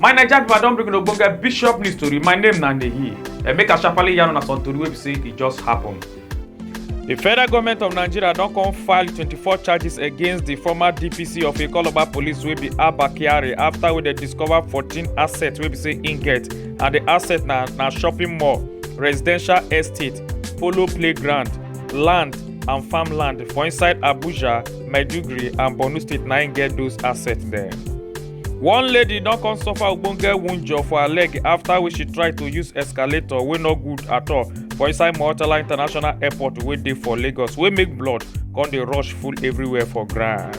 my naija pipo i don bring una ogbonge bishop news tori my name na nehi emeka sharparly yarn una some tori wey be say e just happen. di federal government of nigeria don come file 24 charges against di former dpc of ikoloba police wey be abba kyari afta wey dem discover 14 assets wey be say im get and di asset na na shopping mall residential estate polo playground land and farmland for inside abuja maiduguri and borno state na im get those assets there. one lady don come suffer ogbonge wunjure for her leg after wey she try to use escalator wey no good at all for inside murtala international airport wey dey for lagos wey make blood come dey rush full everywhere for ground.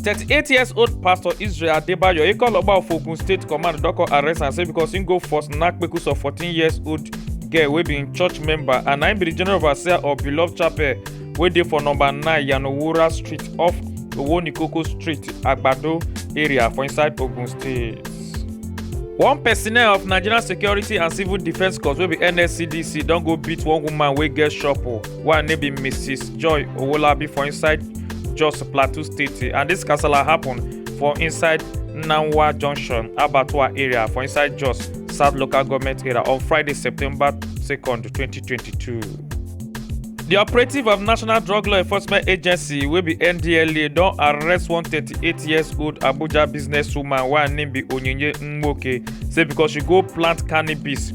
38 years old pastor israel adebayo e call ogba of ogun state command don come arrest am say because im go force knack kpekus of 14 years old girl wey be im church member and na im be di general overseer of beloved chapel wey dey for number 9 yanowura street off owonikoko street agbado area for inside ogun state. one personnel of nigerian security and civil defence corps wey be nscdc don go beat one woman wey get shop o wey name be mrs joy owolabi for inside jos plateau state and dis kasala happen for inside nanwa junction abattoir area for inside jos south local government area on friday september 2nd 2022. di operative of national drug law enforcement agency wey be ndla don arrest one 38 years old abuja businesswoman wey her name be onyinye nwoke say because she go plant cannabis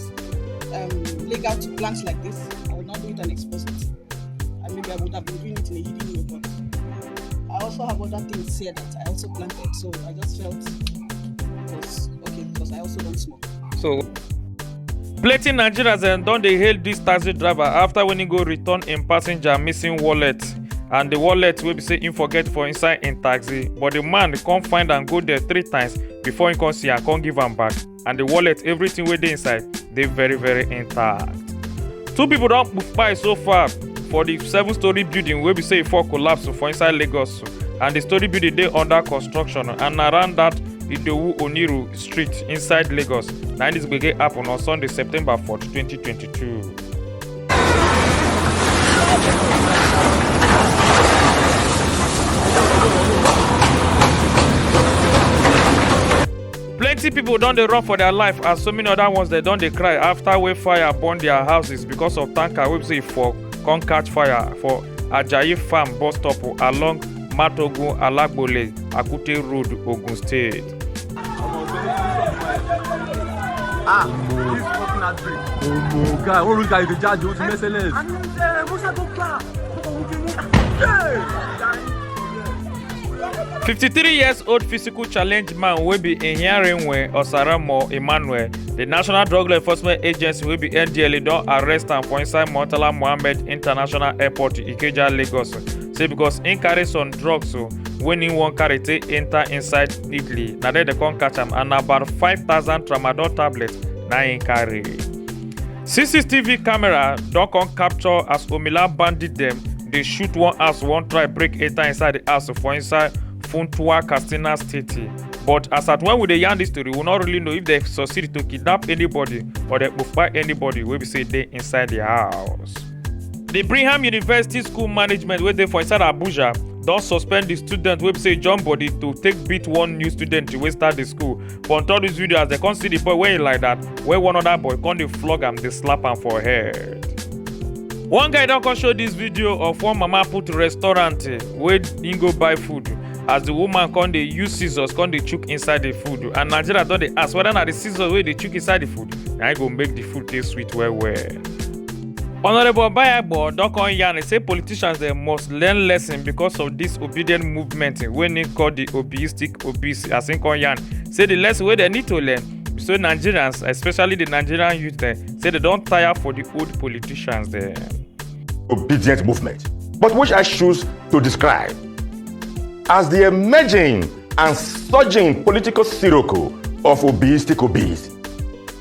um, legal to plant like this, I would not do it and expose it. And maybe I would have been doing it in a hidden way, but I also have other things here that I also planted. So I just felt it was okay because I also don't smoke. So plenty nigerians dem don dey hail dis taxi driver after when he go return im passenger missing wallet and the wallet wey be say im forget for inside im taxi but the man come find am go there three times before he come see am come give am back. and the wallet everything wey dey inside dey very very intact two people don kpai so far for the seven story building wey be say e fall collapse for inside lagos and the story building dey under construction and na around that idowu oniru street inside lagos na im this gbege happen on sunday september 4 2022. plenty pipo don dey run for dia life as so many oda ones dem don dey cry afta wey fire burn dia houses becos of tanker wey be say e for come catch fire for ajayi farm bus stop along matogun alagbole akute road ogun state. ah this fucking outbreak omo guy one rich guy dey judge o ti merciless. àní ẹ musa tó gbà ọkọ̀ òun kì í mú. 53 years old physical challenge man wey be Ihiarinwe Osaramo Emmanuel, the National Drug Law Enforcement Agency wey be NDLA don arrest am for inside Murtala Mohammed International Airport Ikeja, Lagos. Say because im carry some drugs o wey im wan carry take enter inside Italy, na there dem come catch am and na about 5000 tramadol tablets na im carry. CCTV camera don come capture as Omila bandit dem dey shoot one house wan try break enter inside the house for inside Funtua, Katsina State. But as at when we dey yarn this story, we no really know if they succeed to kidnap anybody or they kpai anybody wey be say dey inside the house. The Brigham University School Management wey dey for inside Abuja don suspend the student wey be say jump body to take beat one new student wey start the school but on top this video as they come see the boy wearing like that where one other boy come dey flog am dey slap am for head one guy don come show this video of one mama put restaurant eh, wey he go buy food as the woman come dey use scissors come dey chook inside the food and nigeria don dey ask whether na the scissors wey dey chook inside the food na im go make the food taste sweet well well. honourable obayagbo don come yarn say politicians dem must learn lesson because of this obedient movement wey im call the obiistic OPC as im come yarn say the lesson wey dem need to learn be say Nigerians especially the Nigerian youth dem say dem don tire for the old politicians dem. obedient movement, but which I choose to describe as the emerging and surging political sirocco of Obi's Tikobi's.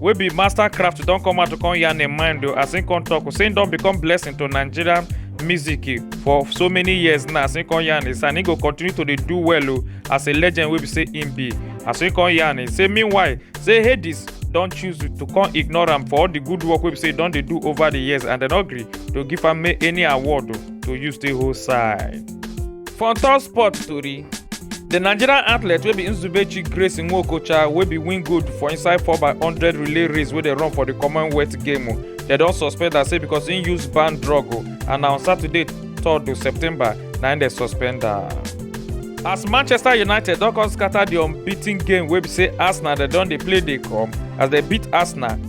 wey be master craft don come out to come yarn im mind o as im come talk say im don become blessing to nigeria music for so many years now as im come yarn is and im go continue to dey do well o as a legend wey be say im be as im come yarn is say meanwhile say hades don choose to come ignore am for all the good work wey be say e don dey do over the years and dem no gree to give am any award to use take hold side. For on top sport tori, the Nigerian athlete wey be Nzubechi Grace Nwokocha wey be win gold for inside 4x100 relay race wey dey run for the Commonwealth game o, dem don suspend am say because im use banned drug o and na on Saturday 3rd of September na im dem suspend am. As Manchester United don come scatter the unbeaten game wey be say Arsenal dem don dey play dey come as dem beat Arsenal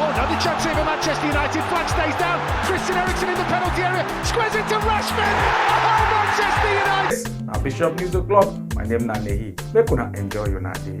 Oh, another chance here for Manchester United. Flag stays down. Christian Eriksen in the penalty area. Squares it to Rashford. Oh, Manchester United. na bishop news o'clock my name na nehi make una enjoy una day.